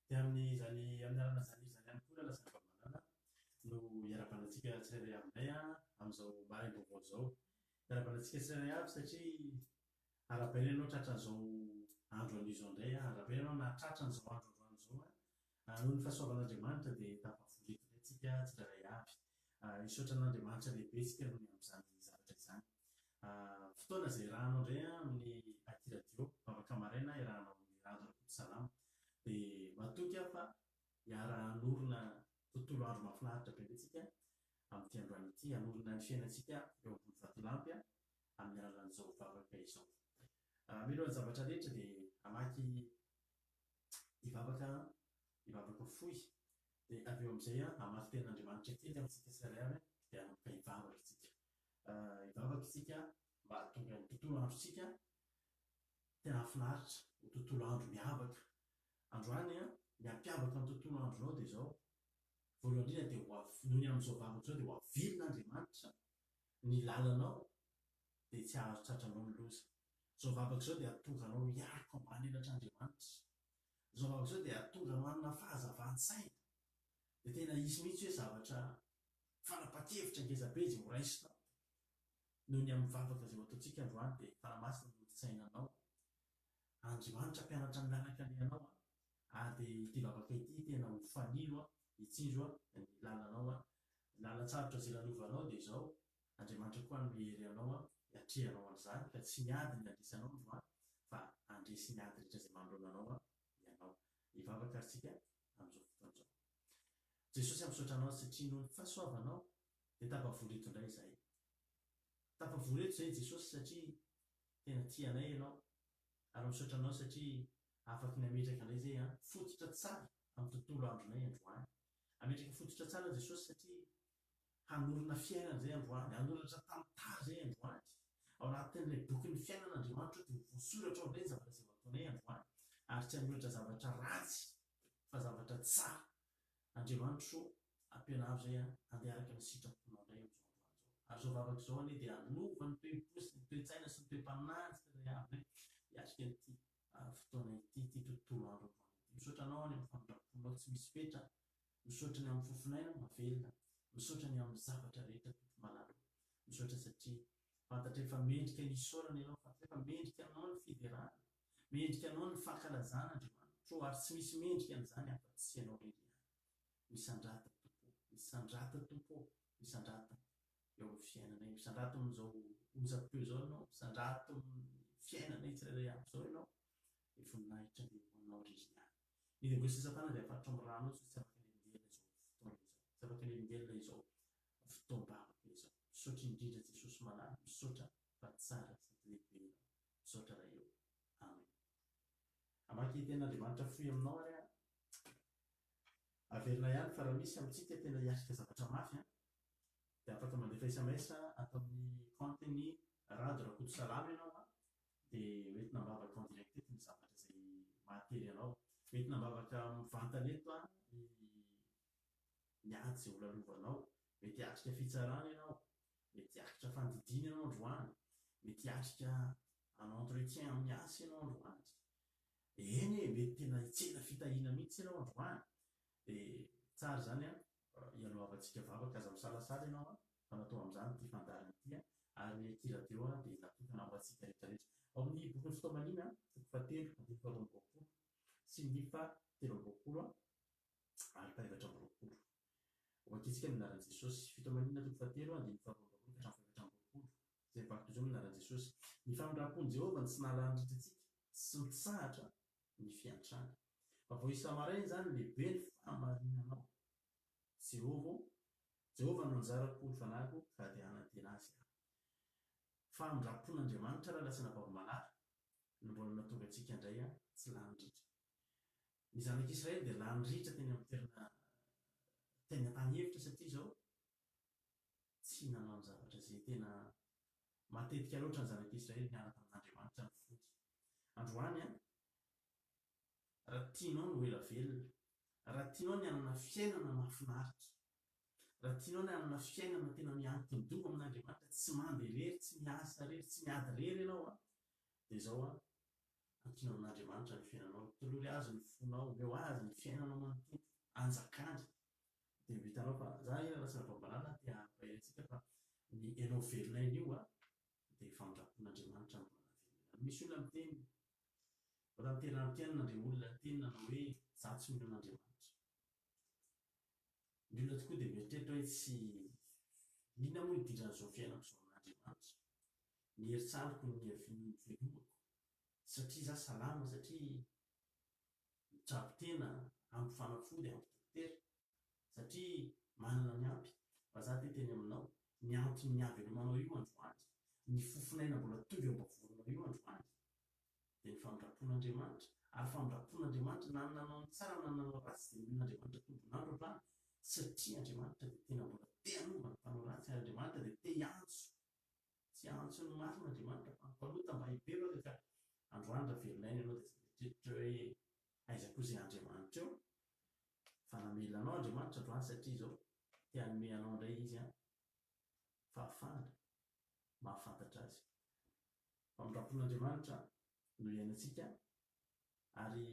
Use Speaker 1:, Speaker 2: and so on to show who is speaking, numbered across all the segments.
Speaker 1: Dia amin'izany, amin'ny alalan'izany hira izany ihany koa raha lasa fahavalana no hiarabanantsika tsirairay aminay amin'izao maraim-baovao izao. Hiarabanantsika tsirairay avy satria arahabaina ianao tratran'izao andro anio izao indray, arahabaina ianao nahatratra an'izao andro androany izao. Ary noho ny fahasoavan'Andriamanitra dia tafavory eto indray tsika tsirairay avy. Hisaotra an'Andriamanitra lehibe isika noho ny amin'izany zavatra izany. Fotoana izay irahanao indray amin'ny aty radio, vavaka maraina irahanao amin'i Rado Rakotosalama. Dia matoky aho fa hiara hanorina tontolo andro mahafinaritra be indray tsika amin'ity androany ity, hanorina ny fiainantsika eo ambony vatolampy amin'ny alalan'izao vavaka izao. Mialohan'ny zavatra rehetra dia hamaky hivavaka hivavaka fohy dia avy eo amin'izay hamaky tenin'Andriamanitra kely amintsika tsirairay avy dia hanomboka hivavaka isika hivavaka isika mba hahatonga ny tontolo androntsika tena hahafinaritra ho tontolo andro miavaka androany an ny hampiavaka ny tontolo andro izao dia izao voalohany indrindra dia ho avy noho ny amin'izao vavaka izao dia ho avilina Andriamanitra ny lalanao dia tsy hahazo tratra anao ny loza. Izao vavaka izao dia hahatonga anao hiaritra ambany elatra Andriamanitra. Izao vavaka izao dia hahatonga anao hanana fahazavan-tsaina. Dia tena hisy mihitsy hoe zavatra fanapan-kevitra ngeza be izay ho raisinao noho ny amin'ny vavaka izay ho ataontsika androany dia Tana Masina no hoditsaina anao. Andriamanitra hampianatra ny lalaka alehanao an! ary dia ity vavaka ity tena ho fanilo an! hitsinjo an! ny lalanao an! ny lalan-tsarotra izay lalovanao dia izao Andriamanitra koa hanome hery anao hiatrehanao an'izany, ka tsy ny ady no handresy anao androany, fa handresy ny ady rehetra izay manoloana anao ianao. Hivavaka ary isika amin'izao fotoana izao. Jesosy a, misaotra Anao satria noho ny fahasoavanao dia tafavory eto indray izahay. Tafavory eto izahay Jesosy satria tena tia anay Ianao, ary misaotra Anao satria afaky ny hametraka indray izay an, fototra tsara amin'ny tontolo andronay androany. Hametraka fototra tsara Jesosy satria hanorina fiainana izay androany, hanoratra tantara izay androany. Ao anatin'ilay bokin'ny fiainana Andriamanitra dia ho voasoratra ao indray ny zavatra izay ho ataonay androany, ary tsy hanoratra zavatra ratsy fa zavatra tsara. Andriamanitra o, ampianaro izay aho handeha araka ny sitraponao indray amin'izao androany izao. Ary izao vavaka izao anie dia hanova ny toe-po sy ny toe-tsaina sy ny toe-panahy ny tsirairay avy hiatrika an'ity fotoana ity, ity tontolo andro androany ity. Misaotra anao any amin'ny famindram-ponao tsy misy fetra Misaotra ny amin'ny fofon'aina mahavelona. Misaotra ny amin'ny zavatra rehetra Tompo malala. Misaotra satria fantatray fa mendrika ny hisaorana Ianao. Fantatray fa mendrika Anao ny fiderana. Mendrika Anao ny fankalazana Andriamanitro o, ary tsy misy mendrika an'izany afa-tsy Ianao irery ihany. Misandrata Tompo o, misandrata Tompo o, misandrata eo amin'ny fiainanay. Misandrato amin'izao onjam-peo izao Ianao, misandrato amin'ny fiainanay tsirairay avy izao Ianao. Ny voninahitra dia ho Anao irery ihany. Ny lingoista sy satana dia afatotro amin'ny rano io satria tsy afaka ny haningelina izao fotoana izao. Tsy afaka ny haningelina izao fotoam-bavaka izao. Misaotra indrindra Jesosy malala. Misaotra fa tsara sady lehibe Ianao. Misaotra Ray ô. Amen. Hamaky Tenin'Andriamanitra fohy aminao ary aho. Averina ihany fa raha misy amintsika tena hiatrika zavatra mafy an, dia afaka mandefa sms ato amin'ny kaontin'i Rado Rakotosalama ianao an, dia ho entina am-bavaka en direct eto ny zavatra izay mahatery anao. Ho entina am-bavaka mivantana eto ny ny ady izay holalovanao. Mety hiatrika fitsarana ianao, mety hiatrika fandidiana ianao androany, mety hiatrika un entretien amin'ny asa ianao androany. Eny e, mety tena hitsena fitahiana mihitsy ianao androany. Dia tsara izany an! Ialohavantsika vavaka aza misalasala ianao a, fa natao amin'izany ity fandaharana ity a, ary ny Eki Radio a dia natokana ho antsika rehetrarehetra. Ao amin'ny bokin'ny Fitaomanina, toko fahatelo, andininy faharoa amby roapolo, sy ny fahatelo amby roapolo ary fahefatra amby roapolo. Ho ankintsika ny anaran'i Jesosy. Fitaomanina, toko fahatelo, andininy faharoa amby roapolo ka hatramin'ny fahefatra amby roapolo, izay mivaky toy izao ny anaran'i Jesosy, Ny famindram-pon'i Jehovah no tsy nahalany ritra antsika, tsy mitsahatra ny fiantrany. Fa vao isa-maraina izany, lehibe ny fahamarinanao, Jehovah ô, Jehovah no anjarako, ny fanahiko, ka dia hanantena azy aho. Famindram-pon'Andriamanitra raha lasa anabavim-balahy no mbola nahatonga antsika indray tsy lany ritra. Ny zanak'Israely dia lany ritra teny amin'ny toerana teny an-tany efitra satria izao tsy nanao ny zavatra izay tena Matetika loatra ny zanak'i Israely niaraka amin'Andriamanitra no fody. Androany an! Raha tianao ny ho ela velona, raha tianao ny hanana fiainana mahafinaritra, raha tianao ny hanana fiainana tena miankin-doha amin'Andriamanitra, tsy mandeha irery, tsy miasa irery, tsy miady irery ianao an! Dia izao an! Ankino amin'Andriamanitra ny fiainanao, tolory Azy ny fonao, omeo Azy ny fiainanao manontolo, anjakany. dia ho hitanao fa za anie raha tsy anabambalana te hampahery antsika fa ny enao velona enio a dia fandrapon'Andriamanitra ny mbola velona enao misy olona miteny mbola miterahampianina ndry olona niteny nanao hoe za tsy mino an'Andriamanitra ny olona tokoa dia mieritreritra hoe tsy inona moa nidiran'izao fiainako izao amin'Andriamanitra ny herintsaroko ny ny velomako satria za salama satria Mitsabo tena ampy fanafody ampy dokotera satria manana ny ampy fa za te teny aminao ny anton'ny havelomanao io androany ny fofon'aina mbola tonga eo ambavorinao io androany dia ny famindrapon'Andriamanitra ary famindrapon'Andriamanitra na ny nanao ny tsara na ny nanao ratsy dia nomen'Andriamanitra tombon'andro hatrany satria Andriamanitra dia tena mbola te hanova ny mpanao ratsy ary Andriamanitra dia te hiantso tsy antso ny marina Andriamanitra fa hampanota mba hibebaka ka androany raha velona aina ianao dia tsy mety hiditra hoe aiza koa izay Andriamanitra eo fa namelona anao Andriamanitra androany satria izao te hanome anao indray izy an fahafahana mahafantatra azy famindrapon'Andriamanitra no iainantsika ary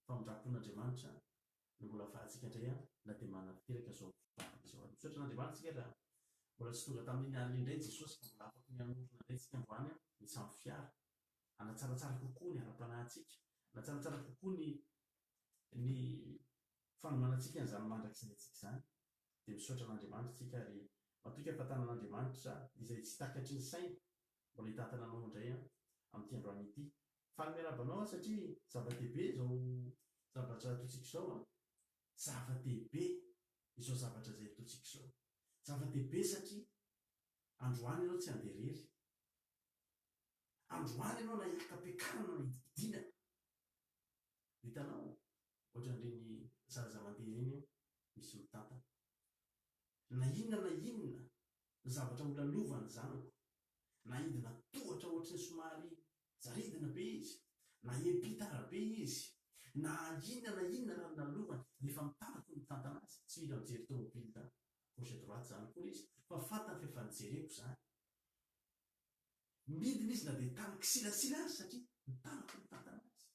Speaker 1: famindrapon'Andriamanitra no mbola ahafahantsika indray an na dia manatanteraka izao vavaka izao ary. Misaotra an'Andriamanitra isika raha mbola tsy tonga tamin'iny alina iny indray Jesosy ka mbola afaka ny hanorina indray antsika androany an, ny samy fiara, hanatsaratsara kokoa ny ara-panahintsika, hanatsaratsara kokoa ny ny fanomanantsika an'izany mandrakizay antsika izany. Dia misaotra an'Andriamanitra isika ary matoky hahafantanan'Andriamanitra izay tsy takatry ny saina mbola hitantana anao indray an, amin'ity androany ity Faly miarahaba anao aho satria zava-dehibe izao zavatra ataontsika izao an! Zava-dehibe izao zavatra izay ataontsika izao. Zava-dehibe satria androany ianao tsy handeha irery. Androany ianao na hiakam-piakarana na hidibidina. Hitanao? Ohatran'ireny zaza mandeha ireny eo, misy mitantana. Na inona na inona zavatra holalovany zanako, na hidina tohatra ohatry ny somary Zaridina be izy, na epitara be izy, na inona na inona raha ny lalovany, rehefa mitarako ny mitantana azy, tsy mila mijery tomobily da gauche droite izany akory izy fa fantany fa efa nijereko izany. Midina izy na dia tany kisilasila aza satria mitarako ny mitantana azy,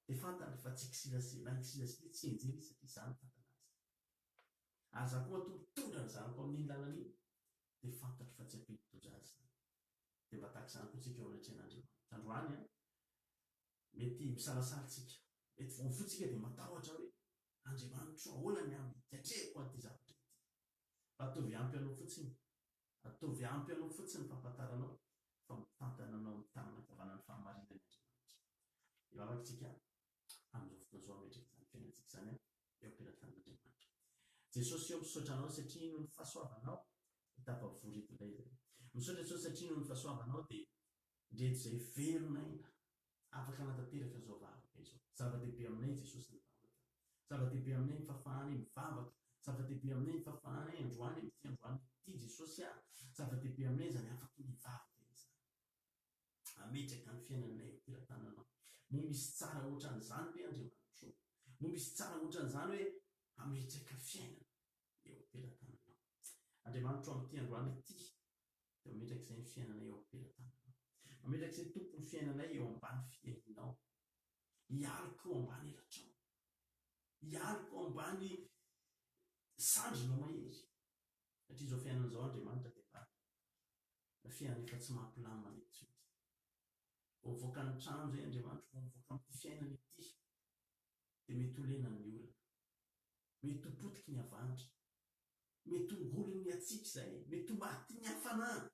Speaker 1: dia fantany fa tsy kisilasila, na kisilasila izy tsy hianjera izy satria izaho mitantana azy. Ary izaho koa matoa mitondra ny zanako amin'iny lalana iny dia fantatro fa tsy ampian'ny doza azy izany. dia mba tahaka izany koa tsika eo anatrehan'Andriamanitra androany an! Mety misalasala tsika, mety vao mifoha tsika dia matahotra hoe, Andriamanitro ô ahoana ny amin hiatrehako an'ity zavatra ity? Fa ataovy ampy anao fotsiny, ataovy ampy anao fotsiny ny fahafantaranao fa mitantana anao amin'ny tanana ankavanan'ny fahamarinany Andriamanitra. Dia mamaky tsika amin'izao fotoana izao hametraka izany fiainantsika izany eo am-pelatanan'Andriamanitra. Jesosy ô, misaotra Anao satria noho ny fahasoavanao dia tafavory eto indray izahay. Misaotra Jesosy satria noho ny fahasoavanao dia ndreto izay velon'aina afaka hanatanteraka izao vavaka izao. Zava-dehibe aminay Jesosy ny vavaka. Zava-dehibe aminay ny fahafahanay mivavaka. Zava-dehibe aminay ny fahafahanay androany amin'ity androany ity Jesosy a. Zava-dehibe aminay izany afaky ny hivavaka izany. Hametraka ny fiainanay eo am-pelatananao. Moa misy tsara hoatran'izany ve, Andriamanitro? Moa misy tsara hoatran'izany hoe hametraka fiainana eo am-pelatananao? Andriamanitro, amin'ity androany ity, dia mametraka izay ny fiainanay eo am-pelatananao. Mametraka izay, Tompo, ny fiainanay eo ambany fiahianao. Hialoko eo ambany elatrao. Hialoko eo ambany sandrinao mahery. Satria izao fiainana izao Andriamanitra dia bado. Fiainana efa tsy mampilamina mihitsy mety. Vao mivoaka ny trano izay Andriamanitra, vao mivoaka amin'ity fiainana ity, dia mety ho lena ny olona. Mety ho potiky ny havandra. Mety ho ngolin'ny hatsiaka izay. Mety ho matin'ny hafanana.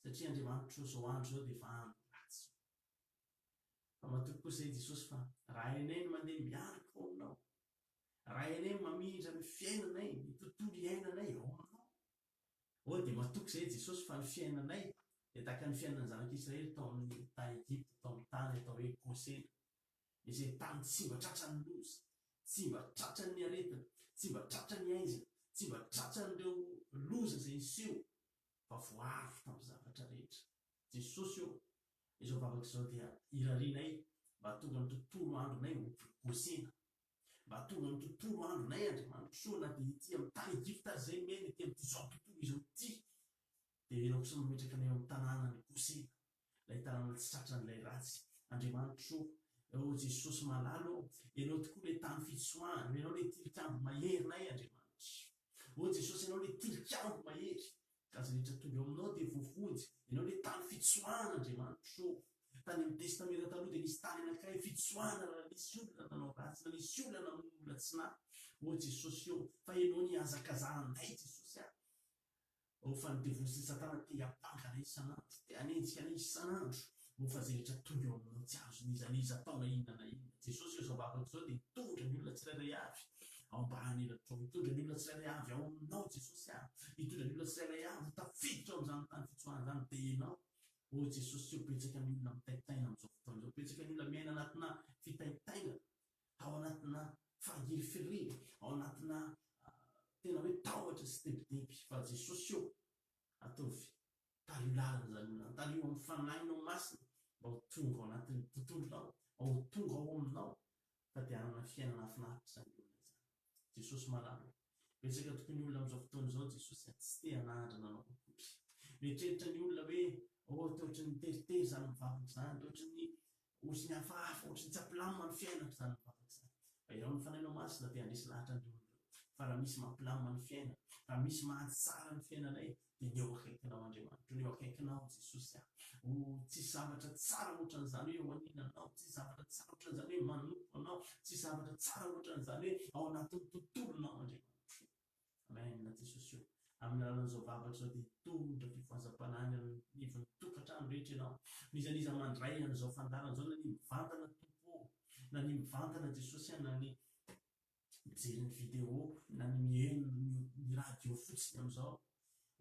Speaker 1: Satria Andriamanitra izao andro izao dia efa andro ratsy. Fa matoky kosa i Jesosy fa raha enay no mandeha miaraka ao aminao, Raha Ianay mamindra ny fiainanay, ny tontolo iainanay ao Aminao. Oh, dia matoky izay, Jesosy, fa ny fiainanay dia tahaka ny fiainan'ny Zanak'i Israely tao amin'ny tany Egypta, tao amin'ny tany atao hoe Gosena, izay tany tsy mba tratran'ny loza, tsy mba tratran'ny aretina, tsy mba tratran'ny aizina, tsy mba tratran'ireo loza izay niseho, fa voaaro tamin'ny zavatra rehetra. Jesosy ô, izao vavaka izao dia irarianay mba hahatonga ny tontolo andronay ho Gosena. Mba hahatonga ny tontolo andronay Andriamanitro soa na dia ety amin'ny tany Egypta aza izay Amen ety amin'itizao tontolo izao ity dia ianao kosa mametraka anay ao amin'ny tanànan'i Gosena ilay tanàna tsy tratran'ilay ratsy Andriamanitro o Oh Jesosy malala o Ianao tokoa ilay tany fitsoahana Ianao ilay tilikambo maherinay Andriamanitra o Jesosy Ianao ilay tilikambo mahery Ka izay rehetra tonga eo aminao dia voavonjy. Ianao ilay tany fitsoahana Andriamanitro. Tany amin'ny Testamenta Taloha dia nisy tany anankiray fitsoahana raha nisy olona nanao ratsy, na nisy olona namono olona tsy nahy. Ô Jesosy ô, fa Ianao nihazakazaha anay Jesosy a! Ô, fa ny devoly sy ny satana te hiampanga anay isan'andro, te hanenjika anay isan'andro. Mofa zehitra tonga eo aminao tsy azon'iza na iza atao na inona na inona. Jesosy eo izao vahaolana izao dia hitondra ny olona tsirairay avy ao ambany elatrao. Hitondra ny olona tsirairay avy ao aminao Jesosy ah. Hitondra ny olona tsirairay avy ho tafiditra ao amin'izany tany fitsoahana izany dia ianao. Oh Jesosy tsy eo betsaka ny olona mitaintaina amin'izao fotoana izao. Betsaka ny olona miaina anatina fitaintainana, ao anatina fangirifiriana, ao anatina tena hoe tahotra sy tebiteby. Fa Jesosy oh ataovy Tario lalan'izany olona izany. Tario amin'ny Fanahinao Masina mba ho tonga ao anatin'ny tontolonao, mba ho tonga ao aminao fa dia hanana fiainana hafinaritra izany olona izany. Jesosy Malala ô! Betsaka tokoa ny olona amin'izao fotoana izao Jesosy a, tsy te hanandrana Anao akory. Mieritreritra ny olona hoe, oh, toa ohatran'ny teritery izany mivavaka izany, toa ohatran'ny Ozy ny hafahafa, ohatry ny tsy ampilamina ny fiainako izany mivavaka izany. Fa irao ny Fanahinao Masina te handresy lahatra an'ireo olona ireo. Fa raha misy mampilamina ny fiainana, raha misy mahatsara ny fiainanay, dia ny eo akaikinao Andriamanitra, ny eo akaikinao Jesosy aho. Oh, tsisy zavatra tsara ohatran'izany hoe eo aninanao, tsisy zavatra tsara ohatran'izany hoe manompo Anao, tsisy zavatra tsara ohatran'izany hoe ao anatin'ny tontolonao Andriamanitra. Amen na Jesosy o. Amin'ny alalan'izao vavaka izao dia hitondra fifohazam-panahy ny amin'ny ivon'ny tokantrano rehetra ianao. N'iza n'iza mandray an'izao fandaharana izao na ny mivantana Tompo o, na ny mivantana Jesosy a, na ny mijery ny video, na ny mihaino ny radio fotsiny amin'izao,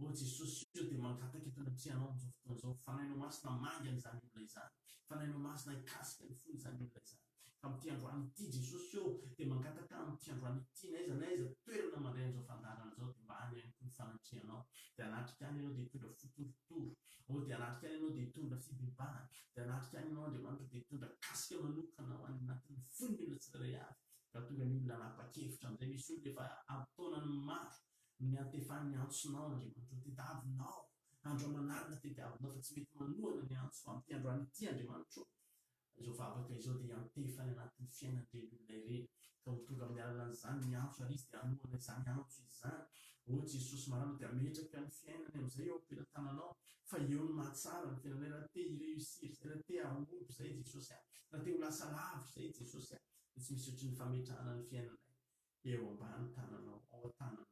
Speaker 1: Ô Jesosy ô dia mangataka eto anatrehanao amin'izao fotoana izao Fanahinao Masina manga an'izany olona izany Fanahinao Masina hikasika ny fon'izany olona izany fa amin'ity androany ity Jesosy ô dia mangataka amin'ity androany ity n'aiza n'aiza toerana mandray an'izao fandaharana izao dia mba any ihany koa ny fanatrehanao dia hanatrika any ianao dia hitondra fotorotoro ô dia hanatrika any ianao dia hitondra fibebahana dia hanatrika any ianao Andriamanitra dia hitondra kasika manokana ho any anatin'ny fon'ny olona tsirairay avy raha tonga ny olona hanapa-kevitra amin'izay misy olona efa ampy taonany maro no niantefany ny antsonao nandriamanitro tediavinao andro aman'alina tediavinao fa tsy mety manohana ny antso amin'ity androany ity andriamanitro izao vavaka izao dia hiantefany anatin'ny fiainan'ireny olona ireny ka ho tonga amin'ny alalan'izany ny antso ary izy dia hanohana izany antso izany ô jesosy marina dia ametraka ny fiainany amin'izay eo am-pelatananao fa eo ny mahatsara ny fiainanay raha te hi-réussir izay raha te hahomby izay jesosy ahy raha te ho lasa lavo izay jesosy ahy dia tsy misy ohatry ny fametrahana ny fiainanay eo ambany tananao, ao an-tananao,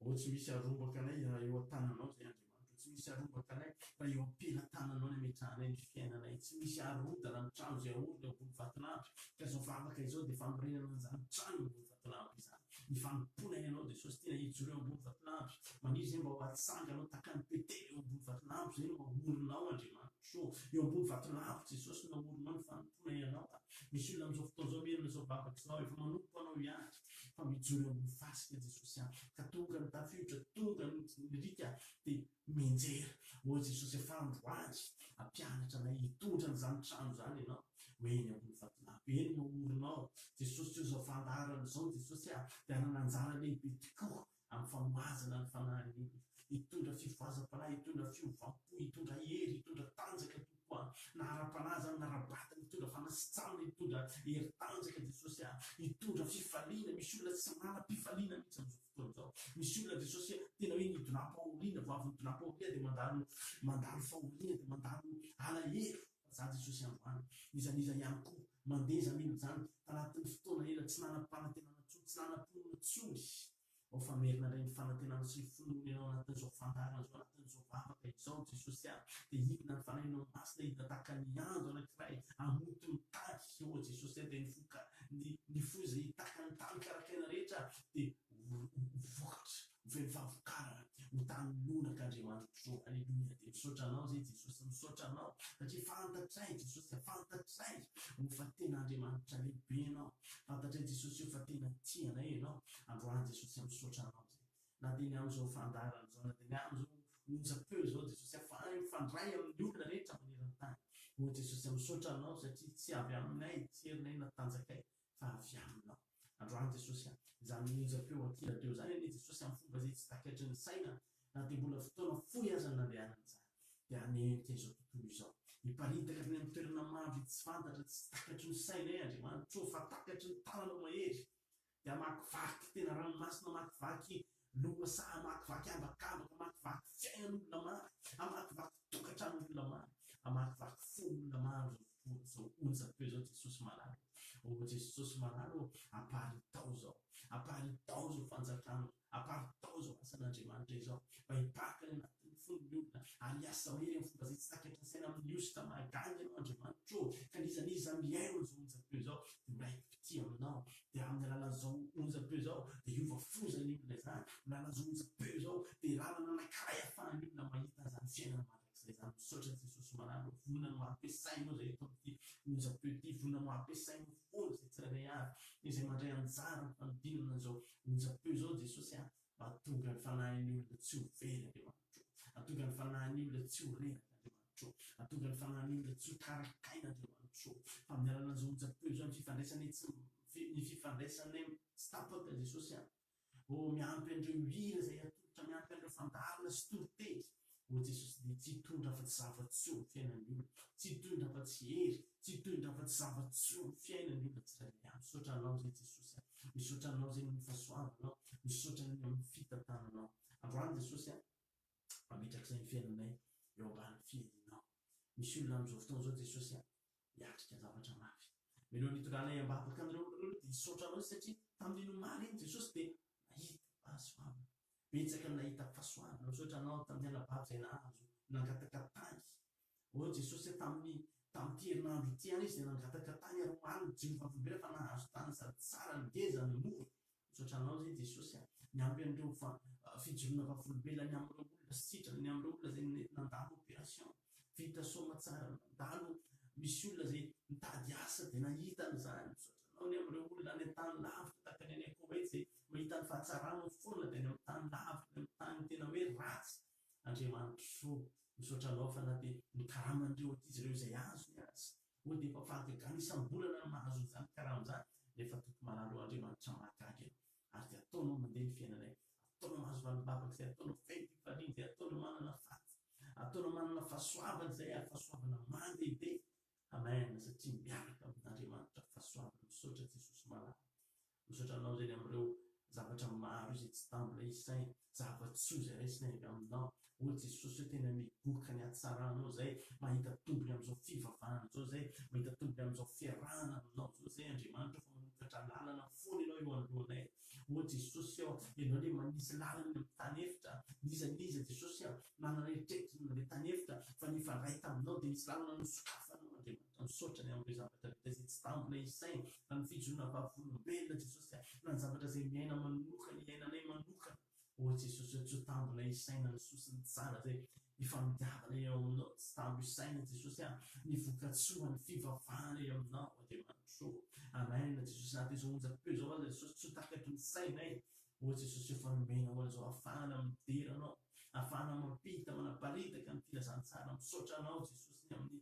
Speaker 1: ao tsy misy arombaka anay raha eo an-tananao zay Andriamanitro, tsy misy arombaka anay fa eo am-pelatananao no ametrahanay ny fiainanay, tsy misy arodana ny trano izay ahorona eo ambony vatolampy, ka izao vavaka izao dia fanorenana an'izany trano eo ambony vatolampy izany, ny fanompoana ny Anao Jesosy, tiana hijoro eo ambony vatolampy, maniry izay mba ho atsanganao tahaka ny Betela eo ambony vatolampy izay no ahorona ao Andriamanitro ô, eo ambony vatolampy Jesosy no ahorona ao ny fanompoana ny Anao a. Misy olona amin'izao fotoana izao mihaino an'izao vavaka izao, efa manompo Anao ihany, fa mijoro eo amin'ny fasika Jesosy aho, ka tonga ny tafiotra, tonga ny riaka, dia mianjera. Ô Jesosy, afaha androany, ampianatra anay hitondra an'izany trano izany Ianao, ho eny ambony vatolampy, eny naorinao, Jesosy, tsy ho zavàndaharana izao, Jesosy a, dia hanana anjara lehibe tokoa Amin'ny famaizana ny fanahiny iny, hitondra fifohazam-panahy, hitondra fiovam-po, hitondra hery, hitondra tanjaka hitompoana na ara-panahy izany na ara-batana, hitondra fanasitranana, hitondra hery tanjaka Jesosy a! hitondra fifaliana, misy olona tsy manam-pifaliana mihitsy amin'izao fotoana izao, misy olona Jesosy a! tena hoe nidonam-pahoriana, vao avy nidonam-pahoriana dia mandalo mandalo fahoriana, dia mandalo alahelo. Zah Jesosy andro any, iza n'iza ihany koa, mandeha iza mino izany, tanatin' ny fotoana ela tsy nanam-panantenana intsony, tsy nanam-pinoana intsony, ao fa merina indray ny fanantenana sy ny finoana ianao anatin'izao fandaharana izao, anatin'izao vavaka izao Jesosy a, dia hidina ny Fanahinao Masina, hidina tahaka ny ando anankiray hamoto ny tany, ô Jesosy a, dia ny voka, ny, ny foza hitaka ny tany karak'aina rehetra dia ho, ho, ho vokatra. vehivavy karana mitany lonaka Andriamanitra tokoa Aleloia dia misaotra anao zay Jesosy misaotra anao satria fantatray Jesosy a fantatray o fa tena Andriamanitra lehibe ianao fantatray Jesosy o fa tena tia anay ianao androany Jesosy a misaotra anao zay na dia ny amin'izao fandaharana izao na dia ny amin'izao onjam-peo izao Jesosy a fa mifandray amin'ny olona rehetra maneran-tany o Jesosy a misaotra anao satria tsy avy aminay tsy herinay na tanjakay fa avy aminao. Androany Jesosy a! Izany onjam-peo aty radio izany anie Jesosy amin'ny fomba izay tsy takatry ny saina na dia mbola fotoana fohy aza no nandehanana izany. Dia hanehoka izao tontolo izao. Hiparitaka hatrany amin'ny toerana maro izay tsy fantatra, tsy takatry ny sainay Andriamanitro ô, fa takatry ny tananao mahery. Dia hamakivaky tena ranomasina, hamakivaky Lohasaha hamakivaky ambakambaka, hamakivaky fiainan'olona maro, hamakivaky tokantranon'olona maro, hamakivaky fon'olona maro izao fotoana izao. Onjam-peo izao Jesosy Malala ô! Ô Jesosy Malala ô! Aparitaho izao, aparitaho izao fanjakanao, aparitaho izao asan'Andriamanitra izao mba hiparitra any anatin'ny fon'ny olona ary hiasa mahery amin'ny fomba izay tsy takatrin'ny saina amin'ny hosoka mahagaga Ianao Andriamanitra ô! Ka n'iza n'iza mihaino an'izao onjam-peo izao dia ho raikitra. mpitia aminao, dia amin'ny alalan'izao onjam-peo izao dia hiova foza ny olona izany, amin'ny alalan'izao onjam-peo izao dia lalana anankiray ahafahan'ny olona mahita izany fiainana mandrakizay izany, misaotra Jesosy Manana vonona no hampiasainao izay eto amin'ity onjam-peo ity, vonona no hampiasainao foana izay tsirairay avy izay mandray anjara amin'ny fanodinana an'izao onjam-peo izao Jesosy aho. Mahatonga ny fanahin'ny olona tsy ho very Andriamanitro. Mahatonga ny fanahin'ny olona tsy ho reraka Andriamanitro. Mahatonga ny fanahin'ny olona tsy ho tarakaina Andriamanitro. Fa amin'ny alalan'ny izao onjam-peo izao, ny fifandraisanay tsy, ny fifandraisanay tsy tapaka Jesosy a. Oh, miampy an'ireo hira izay atolotra, miampy an'ireo fandaharana sy toriteny. O Jesosy dia tsy hitondra afa-tsy zava-tsoa ny fiainan'ny olona, tsy hitondra afa-tsy hery, tsy hitondra afa-tsy zava-tsoa ny fiainan'ny olona tsirairay avy. Misaotra Anao izay Jesosy a! Misaotra Anao izay noho ny fahasoavanao aho, misaotra ny amin'ny fitantananao. Androany Jesosy a! Ametrak'izay ny fiainanay eo ambanin'ny fiahianao. Misy olona amin'izao fotoana izao Jesosy a! hiatrika zavatra mafy. Mialohan'ny hitondranay ambavaka an'ireo olona ireo aloha dia hisaotra Anao izy satria tamin'iny omaly iny Jesosy dia nahita fahasoavana. betsaka ny nahita fasoavana, misaotra Anao tamin'ny hala-bato izay nahazo, nangataka tany, ô Jesosy a, tamin'ny, tamin'ity herinandro ity ihany izy dia nangataka tany ary omaly ny Jehovah velona fa nahazo tany sady tsara, ngeza no mora, misaotra Anao izay Jesosy a, miampy an'ireo fa, fijoroana vavolombelona ny amin'ireo olona sitrana, ny amin'ireo olona izay nety nandalo operation. vita soamatsara mandalo misy olona zay mitady asa de nahita an'izany misaotra anao ny amin'ireo olona any an-tany lavitra tahaka ny any Koweït zay mahita ny fahatsarana foana de any amin'ny tany lavitra any amin'ny tany tena hoe ratsy Andriamanitro misaotra anao fa na de ny karaman'ireo ankizy ireo izay azony aza oh de efa fahagagana isam-bolana ny mahazo an'izany karama izany nefa Tompo malala oh Andriamanitra mahagaga ianao. ary dia ataonao mandeha ny fiainanay, ataonao mahazo valim-bavaka izay ataonao feno fifaliana, izay ataonao manana faty, ataonao manana fahasoavana izay ary fahasoavana mandehibe. Amen, satria miaraka amin'Andriamanitra fahasoavana. Misaotra Jesosy malala. Misaotra anao izay ny amin'ireo zavatra maro izay tsy tambina isaina. Zava-tsoa izay raisina avy aminao, ô Jesosy ô, tena migoka ny hatsaranao izay, mahita tombony amin'izao fivavahana izao izay, mahita tombony amin'izao fiarahana aminao izao izay Andriamanitra fa manokatra lalana foana Ianao eo anoloanay. Ô Jesosy ô, Ianao ilay manisy lalana eny amin'ny tany efitra, n'iza n'iza Jesosy a, manana eritreritry ny mandeha tany efitra fa nifandray taminao dia nisy lalana nosokafanao Andriamanitra. Ka misaotra ny amin'ireo zavatra vita izay tsy tambo ilay isaina, fa ny fijoroana vavolombelona Jesosy a, na ny zavatra izay miaina manokana iainanay manokana ô Jesosy ô tsy tambo ilay isaina ny soa sy ny tsara izay ifandiavanay eo aminao tsy tambo isaina Jesosy a ny vokatsoan'ny fivavahana eo aminao Andriamanitra ô Amen Jesosy na dia izao onjam-peo izao aza Jesosy tsy ho takaky ny sainay ô Jesosy ô fa nomenao an'izao afahana midera anao afahana mampita manaparitaka ny filazantsara misaotra anao Jesosy ny amin'ny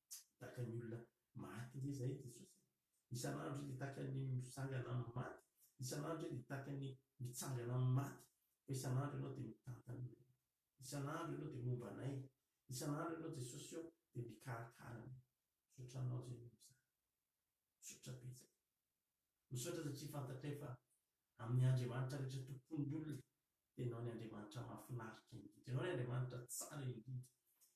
Speaker 1: Tahaka ny olona maty ve izahay Jesosy e? Isan'andro dia tahaka ny misangana amin'ny maty, isan'andro dia tahaka ny mitsangana amin'ny maty, fa isan'andro Ianao dia mitantana anay, isan'andro Ianao dia momba anay, isan'andro Ianao Jesosy ô dia mikarakara anay. Misaotra Anao Jésus amin'izany. Misaotra betsaka. Misaotra satria fantatray fa amin'ny Andriamanitra rehetra tompon'ny olona Ianao ny Andriamanitra mahafinaritra indrindra. Ianao ny Andriamanitra tsara indrindra.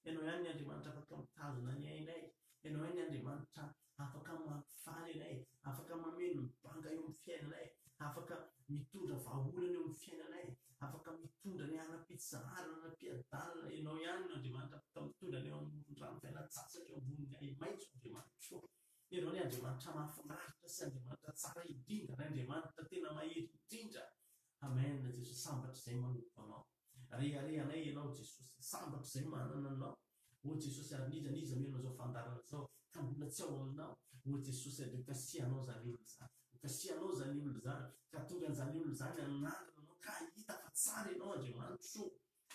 Speaker 1: Ianao ihany ny Andriamanitra afaka mitazona ny ainay. Ianao ihany ny Andriamanitra afaka mampifaly anay, afaka mameno ny banga eo amin'ny fiainanay, afaka mitondra vahaolana eo amin'ny fiainanay, afaka mitondra ny hanam-pitsaharana, hanam-piadanana. Ianao ihany no Andriamanitra afaka mitondra anay eo amoron-drano fialan-tsasatra, eo ambonin'ny ahi-maitso, Andriamanitro. Ianao ny Andriamanitra mahafinaritra sy Andriamanitra tsara indrindra, ny Andriamanitra tena mahery indrindra. Amen Jesosy sambatra zay manompo anao rehareha anay ianao Jesosy sambatra zay manana anao ô Jesosy ary n'iza n'iza mino an'izao fandaharana zao ka mbola tsy ao aminao ô Jesosy ary hokasihanao zany olona zany hokasihanao zany olona zany ka tonga an'izany olona zany anandrana anao ka hahita fa tsara ianao Andriamanitro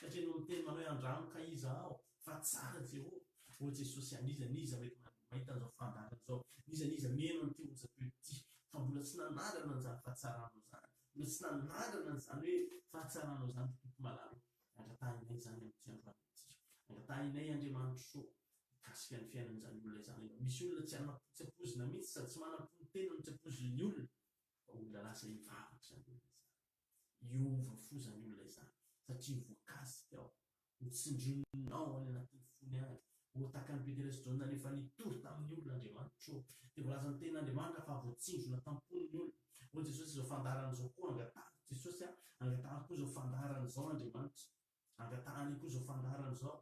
Speaker 1: Satria enao miteny manao hoe andramo ka iza aho fa tsara Jehovah. Ô Jesosy a, n'iza n'iza mety mahita an'izao fandaharana izao, n'iza n'iza mino an'ity onjam-peo ity fa mbola tsy nanandrana an'izany fahatsaranao izany, mbola tsy nanandrana an'izany hoe fahatsaranao izany ry Tompo malala ô, angatahinay izany amin'ity androany ity. Angatahinay Andriamanitro ô, mikasika ny fiainan'izany olona izany ianao. Misy olona tsy ana, tsy ampoizina mihitsy sady tsy manam-po ny tenany, tsy ampoizin'ny olona fa olona lasa hivavaka izany olona izany. hiova fo izany olona izany satria voakasika ao, notsindrinao any anatin'ny fony any, ho tahaka an'i Petera sy Jaona rehefa nitory tamin'ny olona Andriamanitra ô. Dia voalazan'ny tenin'Andriamanitra fa voatsindrona tam-pony ny olona. Hoy Jesosy, Izao fandaharana izao koa angatahiko, Jesosy a, angatahiko koa izao fandaharana izao Andriamanitra. Angatahany io koa izao fandaharana izao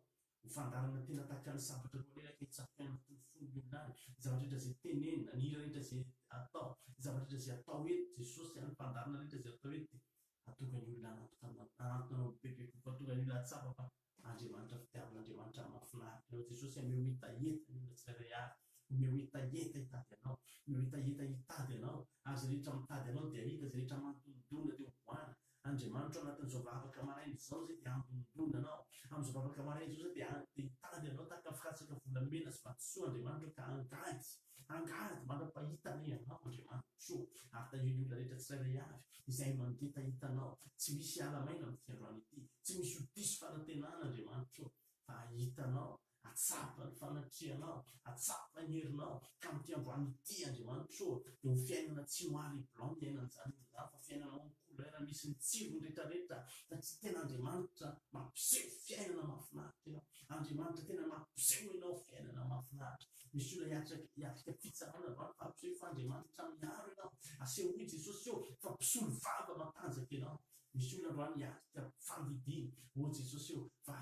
Speaker 1: ho fandaharana tena tahaka ny sabatra roalahy ka hitsatoka any anatin'ny fon'ny olona any ny zavatra rehetra izay tenenina, ny hira rehetra izay atao, ny zavatra rehetra izay atao eto. Jesosy any mpandaharana rehetra izay atao eto dia atonga ny olona hanantona hanantona anao bebe kokoa, atonga ny olona hahatsapa fa Andriamanitra fitiavana, Andriamanitra mahafinaritra anao. Jesosy a, omeo hetaheta ny olona tsirairay avy, omeo hetaheta hitady anao, omeo hetaheta hitady anao ary izay rehetra mitady anao dia hahita, izay rehetra manodondona dia hovoahana, Andriamanitro anatin'izao vavaka maraina izao izay dia hampindoana anao. Amin'izao vavaka maraina izao izay dia ha, dia hitady anao tahaka firatsaka volamena sy vatosoa Andriamanitro ka angady, angady manapahita anie ianao Andriamanitro ô! Ary tahio ny olona rehetra tsirairay avy izay mangeta hitanao. Tsy misy hiala maina amin'ity androany ity, tsy misy ho diso fanantenana Andriamanitro ô, fa hahita anao Atsapa ny fanatrehanao, atsapa ny herinao, ka amin'ity androany ity, Andriamanitra ô, dia ho fiainana tsy noir et blanc ny ainan'izany olon'izany, fa fiainanao amin'ny couleur misy ny tsirony rehetrarehetra, satria tena Andriamanitra mampiseho fiainana mahafinaritra ianao, Andriamanitra tena mampiseho ianao fiainana mahafinaritra. Misy olona hiatrika hiatrika fitsarana va? Fampisehoy fa Andriamanitra miaro ianao, asehoy Jesosy eo fa mpisolo vava matanjaka ianao, Misy olona androany hiatrika fandidiana, ô Jesosy ô, fa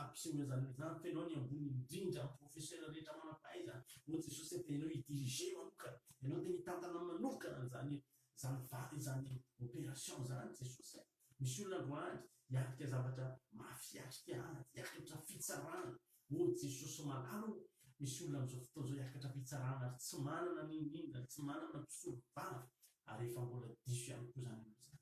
Speaker 1: ampiseho izany olona izany fa Ianao ny ambony indrindra amin'ny professeurs rehetra manam-pahaizana, ô Jesosy ô, dia Ianao hi-diriger manokana, Ianao dia mitantana manokana an'izany izany vady izany opération izany Jesosy a, misy olona androany hiatrika zavatra mafy, hiatrika ady, hiakatra fitsarana, ô Jesosy malala ô, misy olona amin'izao fotoana izao hiakatra fitsarana ary tsy manana n'inon'inona, tsy manana mpisolo vava, ary efa mbola diso ihany koa izany olona izany.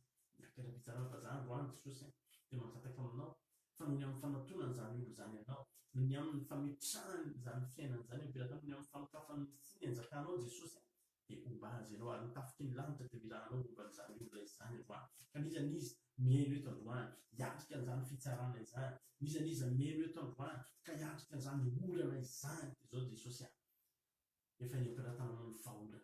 Speaker 1: Takela-pitsarana fa za androany Jesosy a de mangataka aminao fa noho ny amin'ny fanatonany zany olona zany anao, noho ny aminy fametrahany zany fiainany zany ampelatany, noho ny amin'ny fanokafany ny fony anjakanao Jesosy a de homba azy ianao ary ny tafiky ny lanitra de mila anao homba an'izany olona izy zany androany ka n'iza n'iza mihaino eto androany hiatrika an'izany fitsarana izany, n'iza n'iza mihaino eto androany ka hiatrika an'izany orana izany de zao Jesosy a. efa eny am-pelatanana ny vahaolana.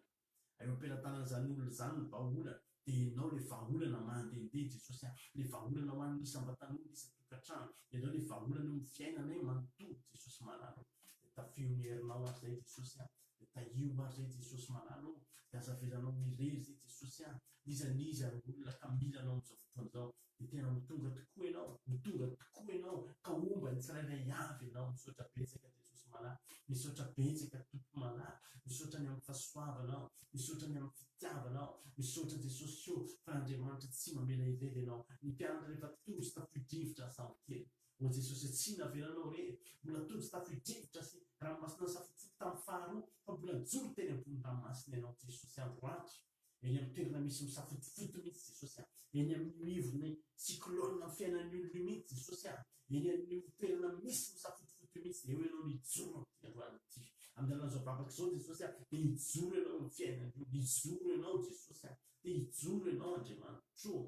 Speaker 1: Eo am-pelatanan'izany olona izany ny vahaolana, dia ianao ilay vahaolana mandehandeha Jesosy a, ilay vahaolana ho an'ny isam-batan'olona, isan-tokantrano, ianao ilay vahaolana eo amin'ny fiainanay manontolo Jesosy malala o, dia tafiho ny herinao ary izay Jesosy a, dia tahiho ary izay Jesosy malala o, dia aza avelanao ho irery izay Jesosy a, iza n'iza ary olona ka mila anao amin'izao fotoana izao, dia tena ho tonga tokoa ianao, ho tonga tokoa ianao, ka homba ny tsirairay avy ianao. Misaotra betsaka Jesosy malala, misaotra betsaka Tompo malala, misaotra ny amin'ny fahasoavanao, misaotra ny amin'ny fitiavanao, misaotra Jesosy ô fa Andriamanitra tsy mamela irery ianao, ny mpianatra rehefa tojo tafio-drivotra aza sambo kely, ô Jesosy a tsy navelanao irery, mbola tojo tafio-drivotra sy ranomasina nasafotsoko tamin'ny faharoa, fa mbola nijoro teny ambony ranomasina ianao Jesosy andro andro. Eny amin'ny toerana misy misafotofoto mihitsy Jesosy a! Eny amin'ny mivon'ny cyclone amin'ny fiainan'ny olona io mihitsy Jesosy a! Eny amin'io toerana misy misafotofoto io mihitsy dia eo Ianao nijoro amin'ity androany ity. Amin'ny alalan'izao vavaka izao Jesosy a! Dia hijoro Ianao amin'ny fiainan'ny olona. Hijoro Ianao Jesosy a! Dia hijoro Ianao Andriamanitro ô!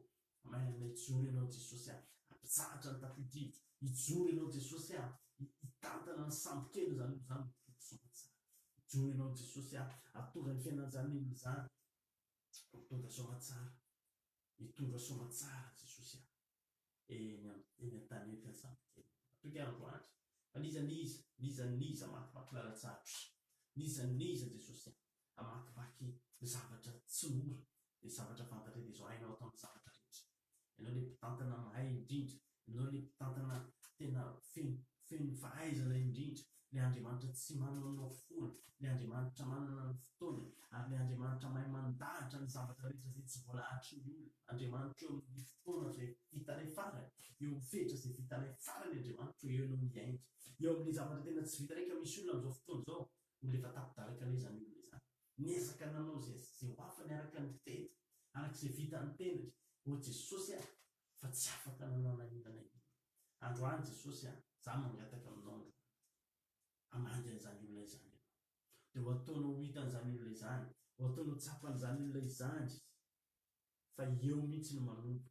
Speaker 1: Maherina hijoro ianao Jesosy a, hampitsahatra ny tafio-drivotra, hijoro ianao Jesosy a, hitantana ny sambokely izany olona izany, mivory soa aman-tsara, hijoro ianao Jesosy a, hahatonga ny fiainan'izany olona izany ho mitondra soa aman-tsara, hitondra soa aman-tsara Jesosy a, eny amin'ny eny an-tany eny ka ny sambokely. Matoky ahy androany, fa n'iza n'iza, n'iza n'iza maty maty lalan-tsarotra, n'iza n'iza Jesosy a, hamakivaky zavatra tsy mora le zavatra fantatra de zao hainao atao ny zavatra rehetra ianao le mpitantana mahay indrindra ianao le mpitantana tena feno feno fahaizana indrindra le Andriamanitra tsy manaonao foana le Andriamanitra manana ny fotoany ary le Andriamanitra mahay mandahatra ny zavatra rehetra zay tsy voalahatry ny olona Andriamanitra eo amin'ny fotoana zay vitanay farany eo amin'ny fehitra zay vitanay farany Andriamanitra eo ianao miainga eo amin'ny zavatra tena tsy vitanay ka misy olona amin'izao fotoana izao Olona efa tapi-daraka anie izany olona izany. Niezaka nanao izay sy izay ho afany araka ny fiteny, araka izay vitan'ny tenany. Ô Jesosy a! fa tsy afaka nanao na inona na inona. Androany Jesosy a! izaho mangataka aminao androany. Hamangy an'izany olona izany ianao. Dia ho ataonao ho hitan'izany olona izany, ho ataonao ho tsapan'izany olona izany fa eo mihitsy no manomboka.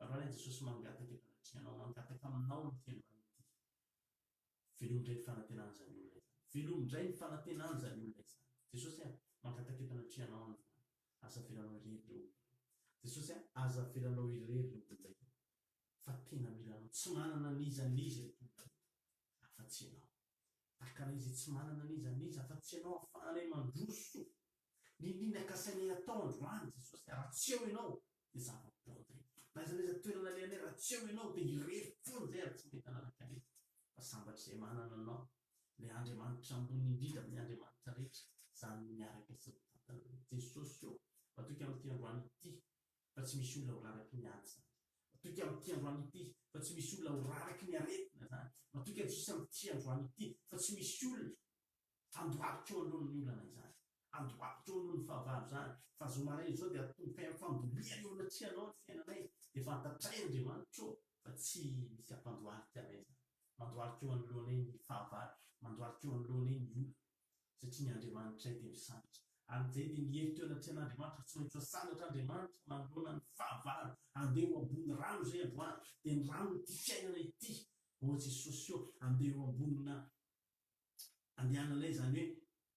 Speaker 1: Raha i Jesosy mangataka dia manatri anao mangataka aminao ny fiangonana ity. Velomy indray ny fanantenana izany olona izany. Velomy indray ny fanantenana izany olona izany. Jesosy a, mangataka eto anatri anao aho androany. Aza avelanao irery ireo olona ireo. Jesosy a, aza avelanao irery ireo olona ireo. Fa tena mila anao. Tsy manana n'iza n'iza ireto olona ireto afa tsy ianao. Takana izay tsy manana n'iza n'iza fa tsy ianao afahanay mandroso ny ny nakasainay hatao androany Jesosy a! Raha tsy eo ianao dia za vao bota e! Na aiza na aiza toerana alehanay raha tsy eo ianao dia irery foana izay ary tsy mety hanaraka anay fa sambatra izay manana anao ilay Andriamanitra ambony indrindra amin'ny Andriamanitra rehetra izany miaraka sy ny Tatanay Jesosy ô! Matoky amin'ity androany ity fa tsy misy olona ho raraky ny ady izany. Matoky amin'ity androany ity fa tsy misy olona ho raraky ny aretina izany. Matoky an'i Jesoa amin'ity androany ity fa tsy misy olona handohalika eo anoloan'ny olana izany, handohalika eo anoloan'ny fahavalo izany. Fa zao maraina izao dia atomboka amin'ny fandolihana eo anatrehanao ny fiainanay, dia fantatray Andriamanitra ô fa tsy misy hampandohalika anay izany. Mandohalika eo anoloanay ny fahavalo, mandohalika eo anoloanay ny olana. satria ny Andriamanitray dia misandratra. Amin'izay dia miery teo anatrehan'Andriamanitra, tsy maintsy misandratra Andriamanitra manoloana ny fahavalo, andeha ho ambony rano izay androany, dia ny rano ity fiainana ity, ô Jesosy ô, andeha ho ambonina andehananay izany hoe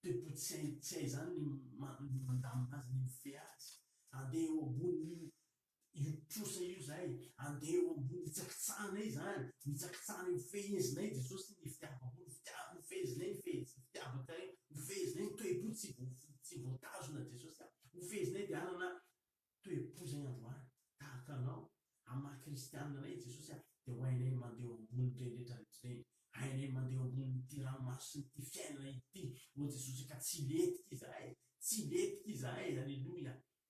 Speaker 1: pepo tsy hay tsy hay izany ny mandamina azy, ny mifehy azy, andeha ho ambonin'io io trosa io izay andeha eo ambony hitsakitsahana izany, mitsakitsahana eo fehezina eo Jesosy ny fitiavako, ny fitiavako eo fehezina eo, ny fitiavako eo fehezina eo, ny toe-po tsy tsy voatazona Jesosy a, eo fehezina eo dia hanana toe-po izay androany tahaka anao amin'ny maha kristianina anay i Jesosy a, dia ho hainay mandeha eo ambony ireny rehetra rehetra ireny, hainay mandeha eo ambony ity ranomaso sy ity fiainana ity ô Jesosy ka tsy hilentika izahay, tsy hilentika izahay, aleloia,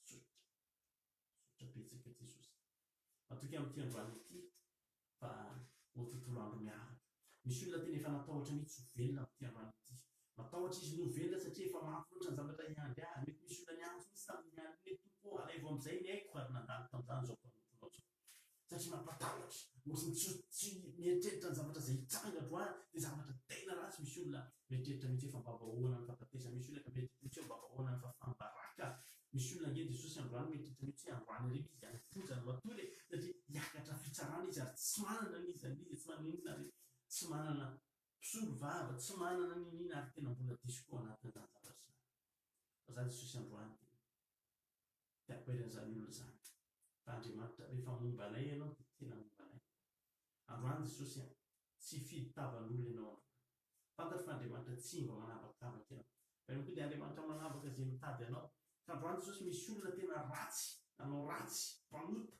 Speaker 1: Misaotra. Misaotra betsaka Jesosy. Matoky amin'ity androany ity fa ho tontolo andro miaraka. Misy olona tena efa natahotra mihitsy ho velona amin'ity androany ity. Matahotra izy ny ho velona satria efa mafy loatra ny zavatra hiandry azy. Mety misy olona niantso mihitsy tamin'iny alina iny, Tompo ô, alaivo amin'izay ny aiko ary nandalo tamin'izany izao mpanomponao izao. satria mampatahotra, nosy tsy tsy mieritreritra ny zavatra izay hitranga androany, dia zavatra tena ratsy, misy olona mieritreritra mihitsy efa mba vahoana ny fahafatesana, misy olona mieritreritra mihitsy hoe mba vahoana ny fahafaham-baraka, misy olona ange Jesosy androany mieritreritra mihitsy hoe androany irery izy any am-ponja no hatory e, satria hiakatra fitsarana izy ary tsy manana ny iza n'iza, tsy manana inona ary tsy manana mpisolo vava, tsy manana n'inona ary tena mbola diso koa ao anatin'izany zavatra izany, fa za Jesosy androany dia dia akoeran'izany olona izany. Fa Andriamanitra, rehefa momba anay Ianao, dia tena momba anay. Androany, Jesosy a, tsy hifidy tavan'olona Ianao androany. Fantatro fa Andriamanitra tsy mba manavakavaka Ianao. Fa Ianao koa dia Andriamanitra manavaka izay mitady Anao. Ka androany, Jesosy, misy olona tena ratsy, nanao ratsy, mpanota.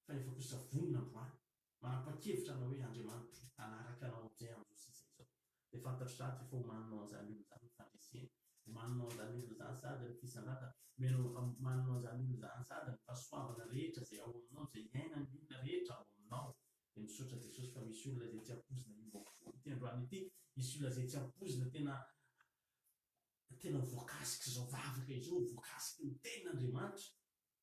Speaker 1: Fa efa kosa vonona androany, manapa-kevitra anao hoe Andriamanitra hanaraka anao amin'izay amin'izao sy izay izao. Dia fantatry za aty fa omaninao an'izany olona izany ny fandreseny, omaninao an'izany olona izany sady ny fisandratana, omenao, omaninao an'izany olona izany sady ny fahasoavana rehetra izay ao aminao, izay iainan'ny olona rehetra ao aminao. Dia misaotra Jesosy fa misy olona izay tsy ampoizina hiova fo ity androany ity, misy olona izay tsy ampoizina tena, tena voakasik'izao vavaka izao, voakasiky ny Tenin'Andriamanitra.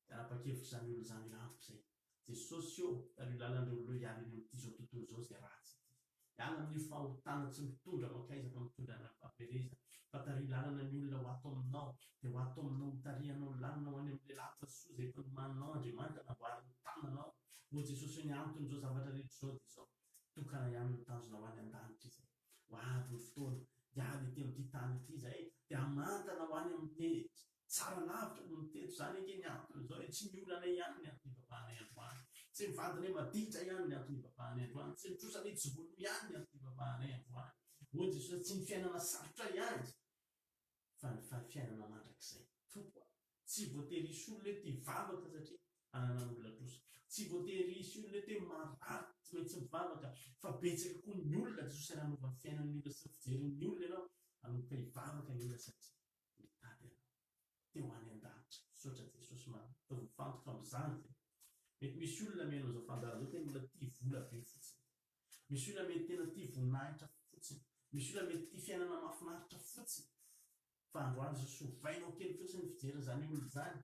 Speaker 1: Tara-pakevitra izany olona izany io antoko izay. Jesosy ô, tariho lalana ireo olona hiala eny amin'ity izao tontolo izao izay ratsy ity. Hiala amin'io fahotana tsy mitondra mankaiza fa mitondra an'aim-pahaverezana. Fa tariho lalana ny olona ho ato aminao, dia ho ato aminao hitarihanao ny lalana ho any amin'ilay lanitra soa izay efa nomaninao Andriamanitra namboarin'ny tananao. Ô Jesosy ô, ny anton'izao zavatra rehetra izao dia izao, tokana ihany ny tanjona ho any an-danitra izay. Ho avy ny fotoana, hiala ety amin'ity tany ity izay, dia hamantana ho any amin'ny tejy. Tsara lavitra noho ny teto. Izany ange ny antony izao e! Tsy ny olana ihany ny anton'ny hibabahanay androany. Tsy ny vadinay maditra ihany ny anton'ny hibabahanay androany. Tsy ny trosanay tsy vono ihany ny anton'ny hibabahanay androany. Hoy Jesosy, Tsy ny fiainana sarotra ihany, fa ny fiainana mandrakizay. Tompoko a! Tsy voatery hisy olona eto hivavaka satria ananan'ny olona trosa. Tsy voatery hisy olona eto hoe marary tsy maintsy mivavaka, fa betsaka koa ny olona Jesosy nanova ny fiainan'ny olona sy ny fijerin'ny olona ianao hanomboka hivavaka ange raha satria. mitady anao dia ho any an-danitra. Misaotra Jesosy Maro mifantoka amin'izany ve? Mety misy olona mihaino an'izao fandaharana izao tena olona tia vola be fotsiny. Misy olona mety tena tia voninahitra fotsiny. Misy olona mety tia fiainana mahafinaritra fotsiny. Fa androany Jesosy ovainao kely fotsiny ny fijeriny izany olona izany.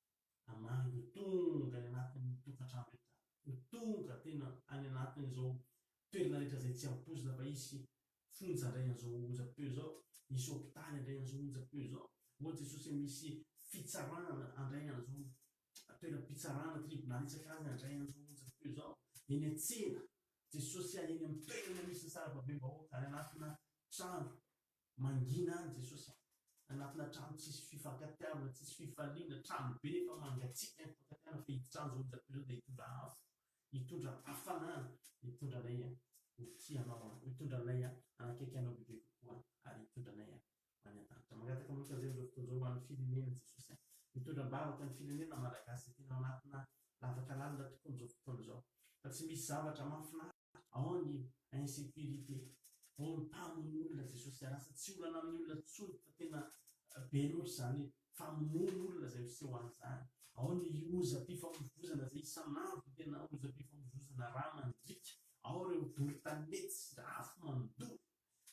Speaker 1: Mamangy tonga any anatin'ny tokantrano rehetra, tonga tena any anatin'izao toerana rehetra izay tsy ampoizina fa hisy fonja indray an'izao onjam-peo izao, hisy hopitaly handray an'izao onjam-peo izao, ô Jesosy a, misy fitsarana handray an'izao toeram-pitsarana, tribonaly isaka azany handray an'izao onjam-peo izao, eny an-tsena, Jesosy a, eny amin'ny toerana misy ny sarababem-bahoaka, any anatina trano, Mangina any Jesosy a! Anatina trano tsisy fifankatiavana, tsisy fifaliana, trano be efa mangatsiaka ny fifankatiavana fa hiditra any zao ny Zafirinao dia hitondra afo, hitondra hafanana, hitondra anay a ho tia anao a, hitondra anay a hanakaiky anao bebe kokoa ary hitondra anay a ho any an-danitra. Mangataka aminao tanjay amin'izao fotoana izao ho an'ny firenena Jesosy a! Mitondra am-bavaka ny firenena Malagasy izay tena ao anatina lavaka lalina tokoa amin'izao fotoana izao fa tsy misy zavatra mahafinaritra. ao ny insecurité, ao ny mpamono olona, Jesosy dia lasa tsy olana amin'ny olona intsony fa tena be loatra izany famonoana olona izay miseho an'izany, ao ny lozam-pifamoivoizana izay isan'andro tena lozam-pifamoivoizana rà mandriaka, ao ireo bory tanety sy afo mandoa,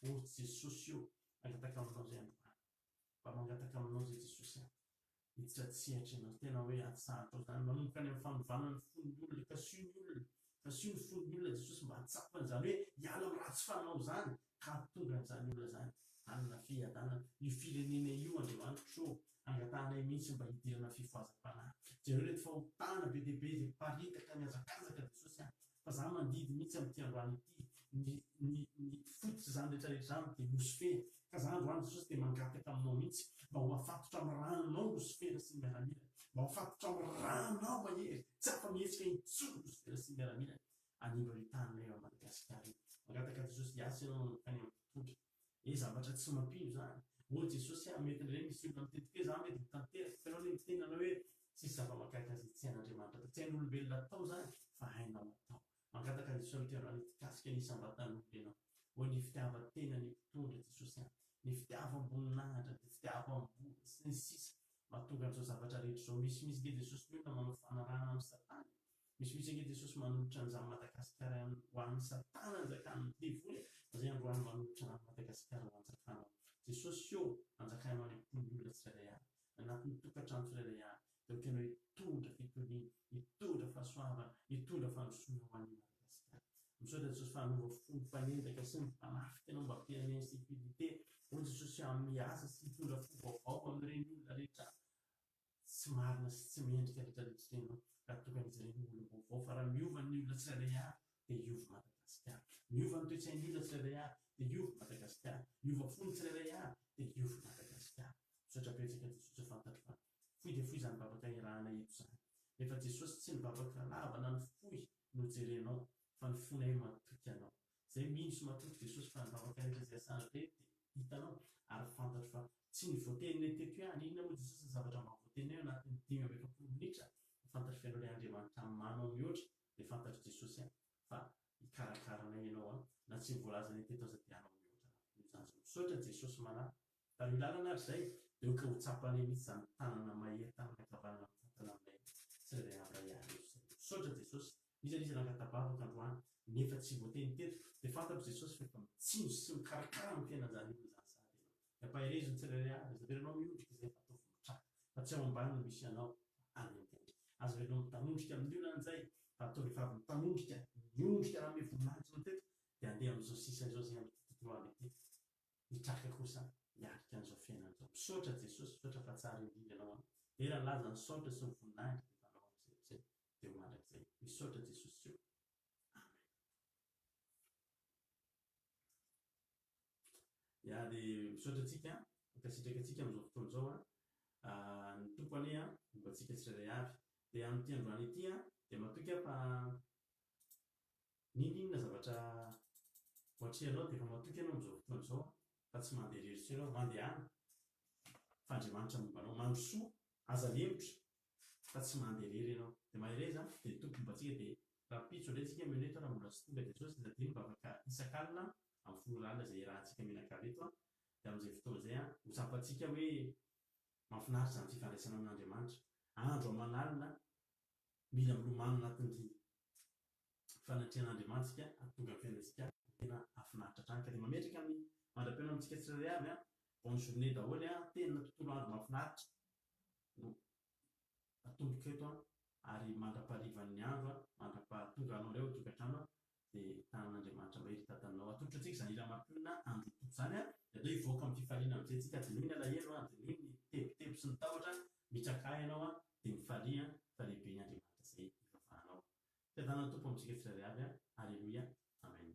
Speaker 1: ô Jesosy ô, mangataka aminao izay androany. mba mangataka aminao izay Jesosy a! Hiditra an-tsehatra ianao, tena hoe atsahatra izany, manomboka any amin'ny fanovana ny fon'ny olona, kasio ny olona, kasio ny fon'ny olona Jesosy mba hahatsapa an'izany hoe hiala amin'ny ratsy fanao izany ka hahatonga an'izany olona izany hanana fiadanana, io firenena io Andriamanitro ô! Angatahanay mihitsy mba hidirana fifohazam-panahy, jereo ireto fahotana be dia be izay miparitaka mihajankajaka Jesosy a! fa za mandidy mihitsy amin'ity androany ity, ny ny ny fototra izany rehetra rehetra izany dia Losifera, ka za androany Jesosy dia mangataka aminao mihitsy mba ho afatotra amin'ny ranonao Losifera sy ny miaramilany, mba ho afatotra amin'ny ranonao mahery, tsy afa-mihetsika intsony Losifera sy ny miaramilany, anindro any an-taninay eto Madagasikara io, mangataka Jesosy hiasa ianao nankany amin'ny mpitondra. Ee zavatra tsy mampino izany. Ô Jesosy a, mety indray misy olona miteny toy hoe za mety mitanteraka, fa ianao anie miteny anao hoe tsisy zava-mahagaga izay tsy hain'Andriamanitra atao. Tsy hain'olombelona atao izany, fa hainao atao. Mangataka ny Jesoa Mitondra anao hikasika ny isam-batan'olona ianao. Ô ny fitiavan-tenan'ny mpitondra Jesosy a, ny fitiavam-boninahitra, ny fitiavam-bola, sy ny sisa, mahatonga an'izao zavatra rehetra izao. Misy mihitsy ange Jesosy ny olona manao fanarahana amin'i Satana e. Misy misy ange Jesosy manolotra anzany Madagascar ho an'i satana anjakan'ny devoly fa zay androany manolotra an'i Madagascar ho anjakanao Jesosy ô anjakanao any am-pon'ny olona tsirairay avy anatin'ny tokantrano tsirairay avy de okanao hitondra fitoniana hitondra fahasoavana hitondra fandrosoana ho an'i Madagascar misaotra Jesosy fa hanova fon'ny mpanendaka sy ny mpanafika anao mba ampian'ny insecurite ô Jesosy aho miasa sy hitondra fo vaovao amin'ireny olona rehetra tsy marina sy tsy mendrika lotra ny fiteny raha toa ka mijerena olona vaovao fa raha miova ny olona tsirairay avy dia hiova Madagasikara. Miova ny toe-tsain'ny olona tsirairay avy dia hiova Madagasikara. Miova fo ny tsirairay avy dia hiova i Madagasikara. Misaotra betsaka Jesosy fantatro fa fohy dia fohy izany vavaka iarahana eto izany. Rehefa Jesosy tsy ny vavaka lava na ny fohy no jerenao fa ny fonay no matoky Anao. Izay mino sy matrotro Jesosy fa ny vavaka rehetra izay asana be dia hitanao ary fantatro fa tsy ny voateninay teto hoe any inona moa Jesosy ny zavatra mba voateninay ao anatin'ny dimy amby efapolo minitra fa fantatro f'ianao ilay Andriamanitra manao mihoatra dia fantatro Jesosy a fa hikarakara anay Ianao a na tsy ny voalazanay teto aza dia hanao mihoatra anao noho izany zao misaotra Jesosy manahy Raha ny lalana ary izay dia ohatra ho tsapanay mihitsy izany tanana mahery tanana ankavanana mitantana aminay tsirairay avy raha hiarivo izay. Misaotra Jesosy. Misy an'iza nangata-bavaka androany nefa tsy voateny teto dia fantatro Jesosy fa efa mitsinjo sy mikarakara ny tena an'izany olona izany sahady ianao. Dia ampaherezo ny tsirairay avy. Aza averinao miondrika izay fa ataovy mitraka fa tsy ao ambany no misy anao fa any an-tendrika. Aza averinao mitanondrika amin'ny olona an'izay fa ataovy efa avy mitanondrika, miondrika raha ome voninahitro anao teto dia andeha amin'izao sisa izao izay amin'ity tontolo andro ity. hitraka kosa hiatrika an'izao fiainana izao. Misaotra Jesosy, misaotra fa tsara indrindra Ianao an. Dera nilaza ny saotra sy ny voninahitra dia efa Anao amiko izay izay dia ho mandrakizay. Misaotra Jesosy Jehovah. Ya dia misaotra antsika, mankasitraka antsika amin'izao fotoana izao a. Ah, ny Tompo anie a, momba antsika tsirairay avy. Dia amin'ity androany ity a, dia matoky aho fa N'inon'inona zavatra ho atrehinao dia efa matoky ianao amin'izao fotoana izao fa tsy mandeha irery intsony ianao, mandehana fa Andriamanitra momba anao, mandrosoa, aza lempotra fa tsy mandeha irery ianao, dia mahereza dia ny Tompo momba antsika, dia rahampitso indray isika mino eto raha mbola tsy tonga Jesosy dia tadidio ny vavaka isak'alina amin'ny folo ora alina izay iarahantsika mianakavy eto an, dia amin'izay fotoana izay an, ho tsapantsika hoe mahafinaritra izany fifandraisana amin'Andriamanitra, andro aman'alina mila milomano anatin'ny. fanatrehan'Andriamanitsika hahatonga ny fiainantsika ho tena hahafinaritra hatrany ka dia mametraka ny mandra-pihaonana amintsika tsirairay avy an! bonne journée daholo an! tena tontolo andro mahafinaritra no atomboko eto an! ary mandra-paharivan'ny andro an! mandra-pahatonganao indray ao an-tokantrano an! dia tanin'Andriamanitra mahery hitatanao atolotra antsika izany hira mampionona andro tompoko izany an! dia atao hivoaka amin'ny fifaliana amin'izay tsika dinoy ny alahelo an! dinoy ny tebiteby sy ny tahotra an! mitraka ahy ianao an! dia mifalia an! fa lehibe ny Andriamanitra izay ivavahanao Fiadanana ny Tompo amintsika tsirairay avy a! Aleloia! Amen.